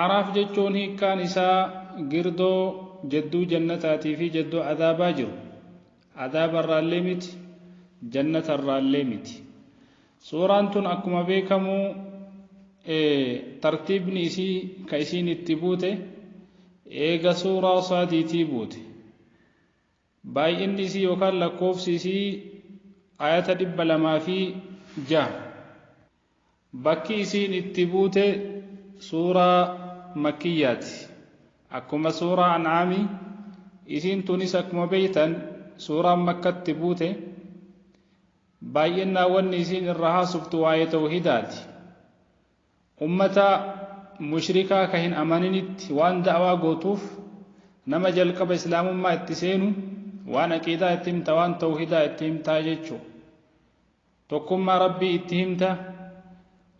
A'raaf jechuun hiikkaan isaa girdoo jadduu jannataatii fi jadduu azaabaa jiru. Azaaba irraallee miti, jannata irraallee miti. Suuraan tun akkuma beekamu tartiibni isii ka isiin itti buute eega suuraa saadiitii buute. Baay'inni isii yookaan lakkoofsi isii ayata dhibba lamaa fi jaha. Bakki isiin itti buute suuraa makkiyyaati. Akkuma suuraa an'aami, isiin tunis akkuma beeytan suuraan makkatti buute. Baay'innaan wanni isiin irra haasoftu waa'ee tawhiidaati. Ummata mushrikaa ka hin amaninitti waan da'waa gootuuf nama jalqaba islaamummaa itti seenu waan aqiidaa itti himta waan tawhiidaa itti himtaa jechu. Tokkummaa Rabbii itti himta,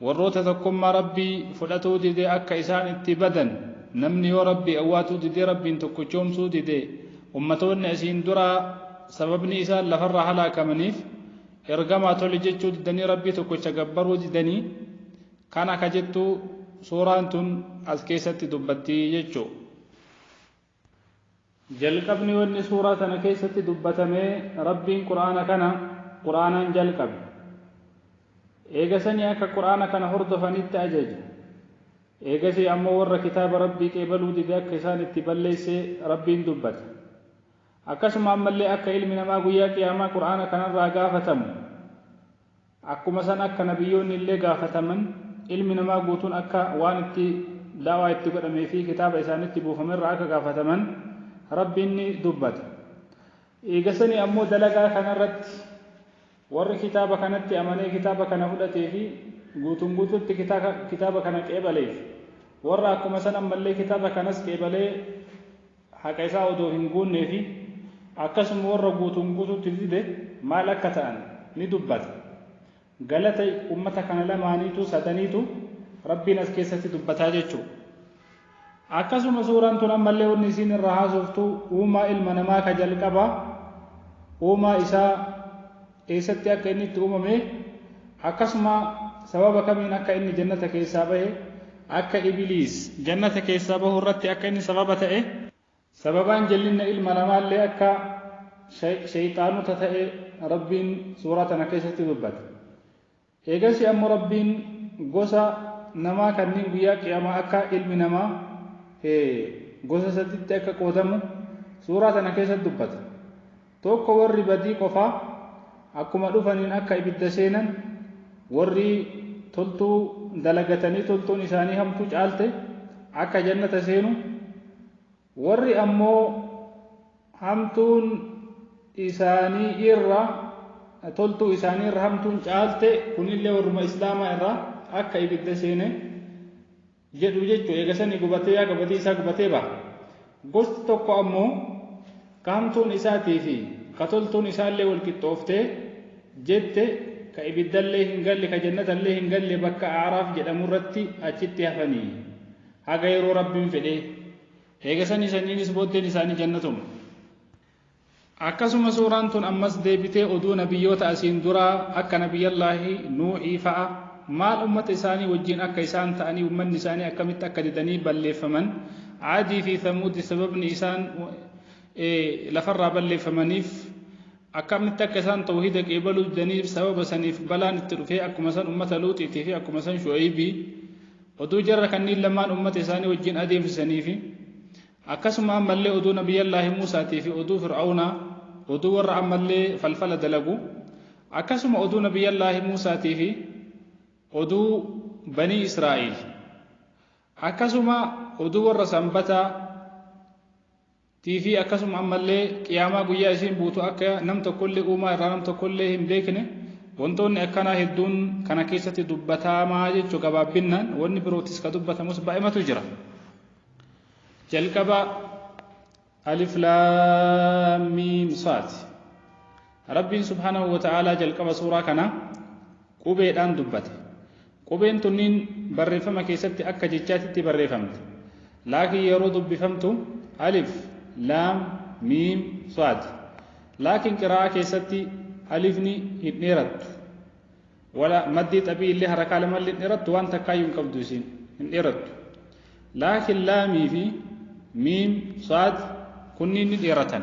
warroota tokkummaa Rabbii fudhatuu dide akka isaan itti badan, namni yoo Rabbii awwaatuu didee Rabbiin tokkochoomsuu dide, ummatoonni asiin duraa sababni isaan lafarraa halaakamaniif, Ergamaa tole jechuu didanii Rabbii tokkocha gabbaruu didanii, kana ka jettu suuraan tun as keessatti dubbatti jechu. Jalqabni wanni suuraa tana keessatti dubbatamee Rabbiin Qur'aana kana Qur'aanaan jalqabe. Eega sanii akka Qur'aana kana hordofanitti ajaje. Eegasii ammoo warra kitaaba Rabbii qeebaluu dide akka isaan itti balleesse Rabbiin dubbate. Akkasuma ammallee akka ilmi namaa guyyaa qiyaamaa Qur'aana kanarraa gaafatamu. Akkuma san akka nabiyyoonni illee gaafataman, ilmi namaa guutuun akka waan itti da'waa itti godhamee fi kitaaba isaanitti buufame irraa akka gaafataman Rabbiin ni dubbata. Eegasanii ammoo dalagaa kana irratti warri kitaaba kanatti amanee kitaaba kana fudhatee fi guutuun guutuutti kitaaba kana qeebaleef, warra akkuma san ammallee kitaaba kanas qeebalee haqa isaa odoo hin guunnee fi akkasuma warra guutuun guutuutti dide maal akka ta'an ni dubbata. Galata ummata kana lamaaniitu, sadaniitu, Rabbiin as keessatti dubbataa jechuudha. Akkasuma suuraan tun ammallee wanni isiin irraa haasoftu uumaa ilma namaa ka jalqabaa, uumaa isaa, eessatti akka inni itti uumame, akkasuma sababa kamiin akka inni Jannata keessaa bahe, akka Ibiliis Jannata keessaa bahu irratti akka inni sababa ta'e, sababaan jallinna ilma namaa illee akka Shayxaanota ta'e Rabbiin suuraa tana keessatti dubbate. Eegasii ammo Rabbiin gosa namaa kanniin guyyaa qiyaamaa akka ilmi namaa he gosa saditti akka qoodamu suuraa tana keessatti dubbata. Tokko warri badii qofaa akkuma dhufaniin akka ibidda seenan, warri toltuu dalagatanii toltuun isaanii hamtuu caalte akka jannata seenu, Warri ammoo hamtuun isaanii irra toltuu isaanii irra hamtuun caalte kunillee warruma islaamaa irraa akka ibidda seene jedhu jechu eega sanii gubatee yaaga badii isaa gubatee baha gosti tokko ammoo ka hamtuun isaatii fi ka toltuun isaallee wal qixxooftee jette ka ibiddallee hin galle ka jannatallee hin galle bakka aaraaf jedhamu irratti achitti hafanii haga yeroo Rabbiin fedhee, eegasanii sanyiin is booddeen isaanii jannatuma. Akkasuma suuraan tun ammas deebitee oduu nabiyyoota asiin duraa akka nabiyyallaahi Nuuhii fa'a maal ummata isaanii wajjiin akka isaan ta'anii ummanni isaanii akkamitti akka didanii balleeffaman Aadii fi Thamuudi sababni isaan lafarraa balleeffamaniif akkamitti akka isaan tawhiida qeebaluu didaniif sababa saniif balaan itti dhufee akkuma san ummata Luuxiitii fi akkuma san Shu'aybii Oduu jarra kanniin lamaan ummata isaanii wajjiin adeemsisanii fi akkasuma ammallee oduu Nabiyyallaahi Muusaatii fi oduu Fir'awnaa, oduu warra ammallee falfala dalagu, akkasuma oduu Nabiyyallaahi Muusaatii fi oduu Banii Israa'iil, akkasuma oduu warra Sanbataa, tii fi akkasuma ammallee Qiyaamaa guyyaa isiin buutu akka nam tokkollee uumaa irraa nam tokkollee hin beekne wantoonni akkanaa hedduun kana keessatti dubbataamaa jechuu gabaabbinnaan wanni birootis ka dubbatamus baay'imatu jira jalqaba alif laam miim saad rabbiin subhaanahu wa ta'aalaa jalqaba suuraa kana qubeedhaan dubbate Qubeen tunniin barreeffama keessatti akka jechaatitti barreefamti. Laakiin yeroo dubbifamtu alif, laam, miim, saad. Laakiin qiraa'aa keessatti alifni hin dheerattu. Wala maddii xabii illee harakaa lama illee hin dheerattu waan takkaayyuu hin qabdu isiin hin dheerattu. Laakiin laamii fi miim, saad kunniin ni dheeratan.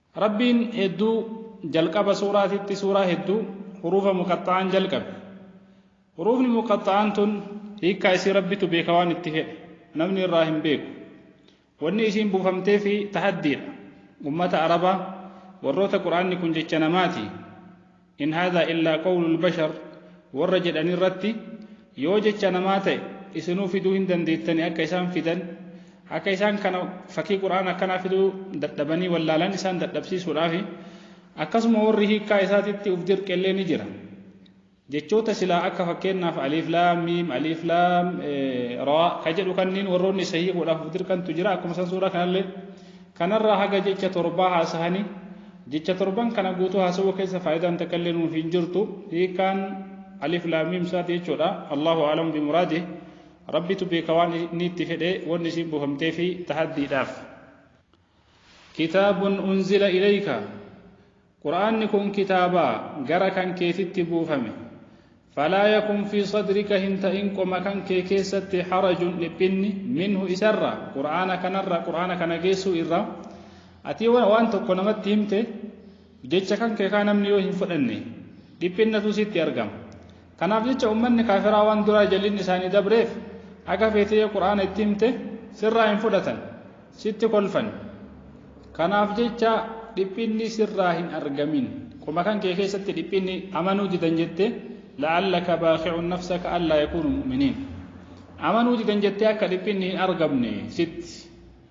Rabbiin hedduu jalqaba suuraatitti suuraa hedduu huruufa muqaxxa'aan jalqabe. Huruufni muqaxxa'aan tun hiikkaa isii Rabbitu beeka waan itti fedhe namni irraa hin beeku. Wanni isiin buufamteefi tahaddiidha. Ummata Arabaa warroota Qur'aanni kun jecha namaati. in haadha illaa qawlul bashar warra jedhan irratti yoo jecha namaa ta'e isinuu fiduu hin dandeettani akka isaan fidan akka isaan kana fakkii qur'aana akkanaa fiduu dadhabanii wallaalan isaan dadhabsiisuudhaafi akkasuma warri hiikkaa isaatitti uf dirqellee ni jira jechoota silaa akka fakkeenyaaf aliif laam miim aliif laam raa ka jedhu kanniin warroonni isa hiikuudhaaf uf dirqantu jira akkuma san suuraa kanallee Kanarraa haga jecha torbaa haasahani. Jecha torban kana guutuu haasawuu keessa faayidaan takka illee nuuf hin jirtu. Hiikaan Alif Laam Miim Saad jechuudha. Allaahu A'lamu bi muraadih. Rabbitu beeka waan inni itti fedhe wanni isiin buufamteefi tahaddiidhaaf. Kitaabun unzila ilayka Qur'aanni kun kitaaba gara kan keetitti buufame. Falaa yakun fii sadrika hin ta'in qoma kan kee keessatti harajun dhiphinni minhu isarra Qur'aana kanarra Qur'aana kana geessuu irra ati waan tokko namatti himte jecha kan kee kaa namni yoo hin fudhanne dhiphinnatu sitti argama. Kanaaf jecha ummanni kaafiraa waan duraa jallinni isaanii dabreef haga feete yoo qur'aana itti himte sirraa hin fudhatan sitti kolfan kanaaf jecha dhiphinni sirraa hin argamin qoma kan kee keessatti dhiphinni amanuu didan jette la'allaka baaqi'un nafsaka allaa yakuunu mu'miniin amanuu didan jettee akka dhiphinni hin argamne sitti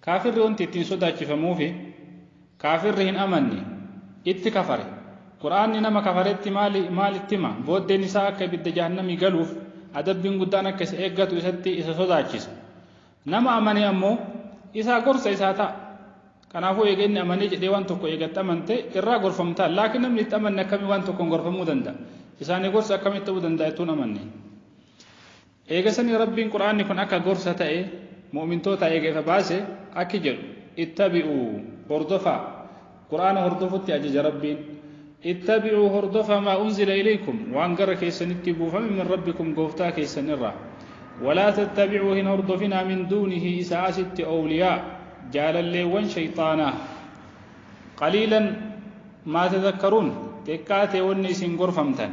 Kaafirri wanti ittiin sodaachifamuufi kaafirri hin amanne, itti kafare. Qur'aanni nama kafaretti maali maal itti hima? Booddeen isaa akka ibidda jahannamii galuuf adabbiin guddaan akka isa eeggatu isatti isa sodaachisa. Nama amane ammoo isaa gorsa isaa ta'a. Kanaafuu eega inni amanee jedhee waan tokko eega itti amante irraa gorfamta. Laakiin namni itti amanne akkamiin waan tokkoon gorfamuu danda'a? Isaanii gorsi akkamitti ta'uu danda'a ittuu hin amanne? Eega sanii Rabbiin Qur'aanni kun akka gorsa ta'e mu'mintootaa eega ifa baase akki jedhu, Ittabi'uu, hordofaa, Qur'aana hordofutti ajaja Rabbiin, Ittabi'uu, hordofaa, maa unzila ilaykum, waan gara keessanitti buufame min Rabbikum, Gooftaa keessan irraa, Walaa tattabi'uu, hin hordofinaa, min duunihi, isaa asitti, Awliyaa, jaalalleewwan shayxaanaa, Qaliilan, maa tadhakkaruun, xiqqaa ta'e wanni isin gorfamtan.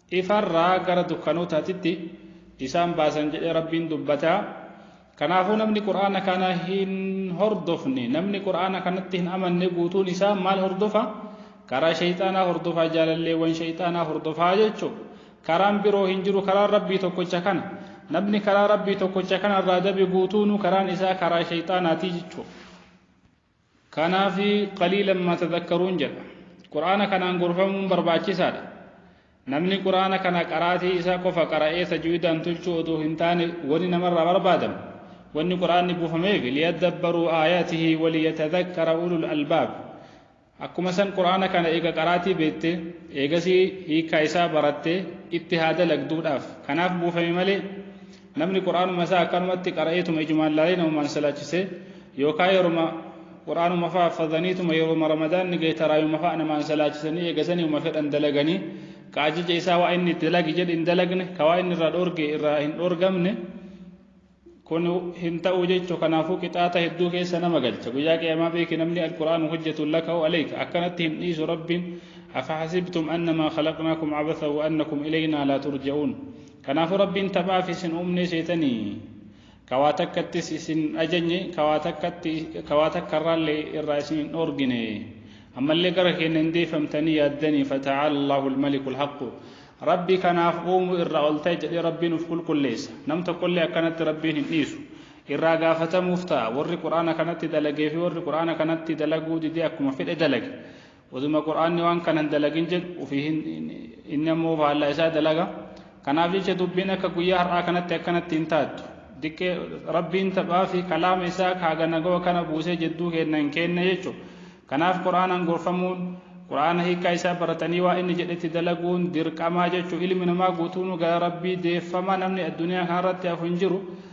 ifarraa gara dukkanootaatitti isaan baasan jedhee Rabbiin dubbata. Kanaafuu namni Qur'aana kana hin hordofne, namni Qur'aana kanatti hin amanne guutuun isaa maal hordofa? Karaa shayxaanaa hordofa, jaalalleewwan shayxaanaa hordofa jechuudha. Karaan biroo hin jiru, karaan Rabbii tokkocha kana. Namni karaa Rabbii tokkocha kanarraa dabe guutuunuu karaan isaa karaa shayxaanaati jechuudha. Kanaaf qaliilan maa tadakkaruun jedha. Qur'aana kanaan gorfamuun barbaachisaadha. Namni Qur'aana kana qaraatii isaa qofa qara'ee tajwiidaan tolchuu odoo hin taane wani namarraa barbaadamu, wanni Qur'aanni buufameef liyaddabbaruu aayaatihi waliyatadakkara ulul albaab. Akkuma san Qur'aana kana eega qaraatii beette, eegasii hiikkaa isaa barattee itti haa dalagduudhaaf. Kanaaf buufame malee Namni Qur'aanuma isaa akkanumatti qara'eetuma ijumaan laalee namumaan salaachisee yookaa yeruma Qur'aanuma fa'a affadhaniituma yeruma Ramadaanni gahe taraayuma fa'a namaan salaachisanii eegasanii uma fedhan dalaganii ka ajaja isaa waa inni itti dalagi jedhe hin dalagne ka waa inni irraa dhoorge irraa hin dhoorgamne kun hin ta'u jechu kanaafuu qixaata hedduu keessa nama galcha guyyaa qiyamaa beeki namni alqur'aan hojjetuun laka'u aleyka akkanatti hin dhiisu rabbiin afa hasibtum annamaa khalaqnaakum abatha wa annakum ilaynaa laa turja'uun Kanaafuu Rabbiin taphaaf isin uumne seetanii ka waa takkattis isin hin ajajne ka waa takkatti ka waa takkarraallee irraa isin hin dhoorgine ammallee gara keenna hin deeffamtanii yaaddanii fata'aala Allahu al-maliku al-haqqu Rabbi kanaaf uumu irraa ol ta'e jedhee Rabbiin uf qulqulleessa nam tokkollee akkanatti Rabbiin hin dhiisu irraa gaafatamuuf ta'a warri Qur'aana kanatti dalagee fi warri Qur'aana kanatti dalaguu didee akkuma fedhe dalage Oduma Qur'aanni waan kana hin dalagin jedhu ofii hin inni ammoo faallaa isaa dalaga. Kanaaf jecha dubbiin akka guyyaa har'aa kanatti akkanatti hin taattu. Diqqee Rabbiin taphaa fi kalaama isaa kaaga nagawa kana buusee jidduu keenna hin keenne jechu. Kanaaf Qur'aanaan gorfamuun Qur'aana hiikaa isaa baratanii waa inni jedhetti dalaguun dirqamaa jechu. Ilmi namaa guutuunuu gara Rabbii deeffama namni addunyaa kanarratti hafu hin jiru.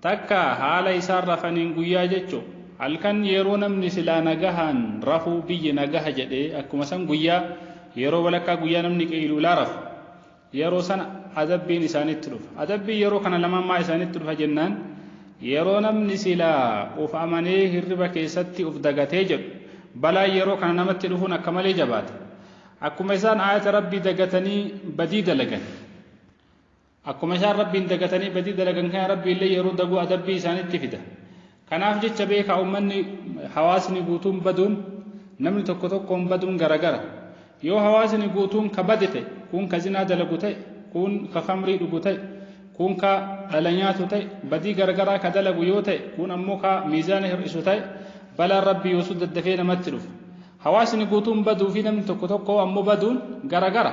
Takka haala isaan rafaniin guyyaa jechu halkan yeroo namni silaa nagahaan rafuu biyyi nagaha jedhee akkuma san guyyaa yeroo walakkaa guyyaa namni qeyluulaa rafu yeroo san adabbiin isaanitti dhufa adabbiin yeroo kana lamaan maa isaanitti dhufa jennaan yeroo namni silaa uf amanee hirriba keessatti uf dagatee jedhu balaan yeroo kana namatti dhufuun akka malee jabaata akkuma isaan aayata rabbii dagatanii badii dalagan Akkuma isaan Rabbiin dagatanii badii dalagan kana Rabbiillee yeroo daguu adabbii isaanitti fida. Kanaaf jecha beekaa ummanni, hawaasni guutuun baduun, namni tokko tokkoon baduun garagara. Yoo hawaasni guutuun ka bade ta'e, kuun ka zinaa dalagu ta'e, kuun ka khamrii dhugu ta'e, kuun ka dhala nyaatu ta'e, badii garagaraa ka dalagu yoo ta'e, kuun ammoo ka miizaana hir'isu ta'e, balaan Rabbii yoosuu daddafee namatti dhufa. Hawaasni guutuun baduu fi namni tokko tokkoo ammoo baduun garagara.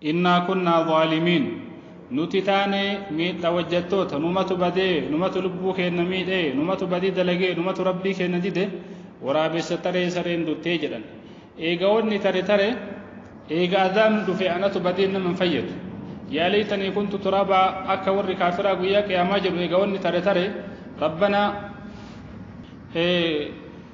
Innaa kunnaa zaalimiin. Nuti taane miidha wajjattoota, numatu badee, numatu lubbuu keenna miidhe, numatu badii dalage, numatu Rabbii keenna dide, waraabessa taree sareen duttee jedhan. Eega wanni tare tare, eega azaabni dhufe anatu badeen nama hin fayyadu. Yaa laytanii kuntu turaaba akka warri kaafiraa guyyaa qiyaamaa jedhu eega wanni tare tare, Rabbanaa,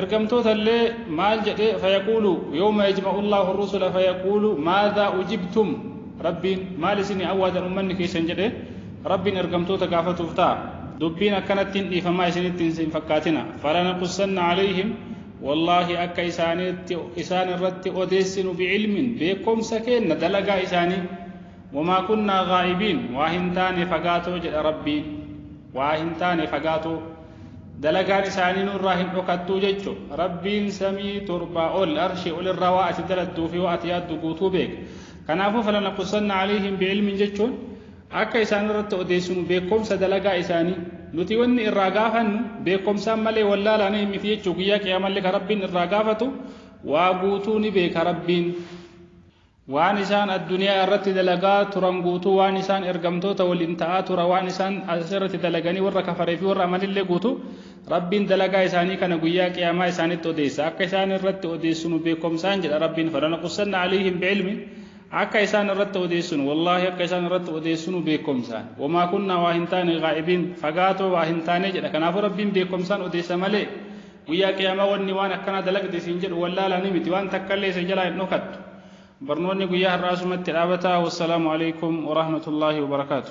Ergamtoota illee maal jedhee fayaquulu yawma yajma'u Allaahu ar-rusula fayaquulu maadhaa ujibtum Rabbiin maal isinii awwaadan ummanni keessan jedhee Rabbiin ergamtoota gaafatuuf ta'a. Dubbiin akkanatti hin dhiifamaa isinitti hin fakkaatina. Falanaqussanna alayhim wallaahi akka isaaniitti isaan irratti odeessinu bi'ilmin beekkomsa keenna dalagaa isaanii wamaa kunnaa gaa'ibiin waa hin taane fagaatoo jedha Rabbiin waa hin taane fagaatoo. dalagaan isaanii nurraa hin dhokattuu jechu rabbiin samii torbaa ol arshii ol irraa waa ati daladduu fi waa ati yaaddu guutuu beeka kanaafuu falana qusanna alayhim bi'ilmin jechuun akka isaan irratti odeessinu beekomsa dalagaa isaanii nuti wanni irraa gaafannu beekomsaan malee wallaalaanii miti jechuu guyyaa qiyaamallee ka rabbiin irraa gaafatu waa guutuu ni beeka rabbiin Waan isaan adduniyaa irratti dalagaa turan guutuu waan isaan ergamtoota waliin ta'aa tura waan isaan as irratti dalaganii warra kafaree fi warra amanillee guutu Rabbiin dalagaa isaanii kana guyyaa qiyaamaa isaanitti odeessa akka isaan irratti odeessinu beekomsaan jedha Rabbiin falana qussanna aliihim bi'ilmi akka isaan irratti odeessinu wallaahi akka isaan irratti odeessinu beekomsaan wamaa kunnaa waa hin taane gaa'ibiin fagaatoo waa hin taane jedha kanaafuu Rabbiin beekomsaan odeessa malee Guyyaa qiyaamaa wanni waan akkanaa dalagde siin jedhu wallaalaa ni miti waan takkallee isa jalaa hin dhokattu. Barnoonni guyyaa har'aa asumatti dhaabataa. Wassalaamu alaikum warahmatullaahi wabarakaatu.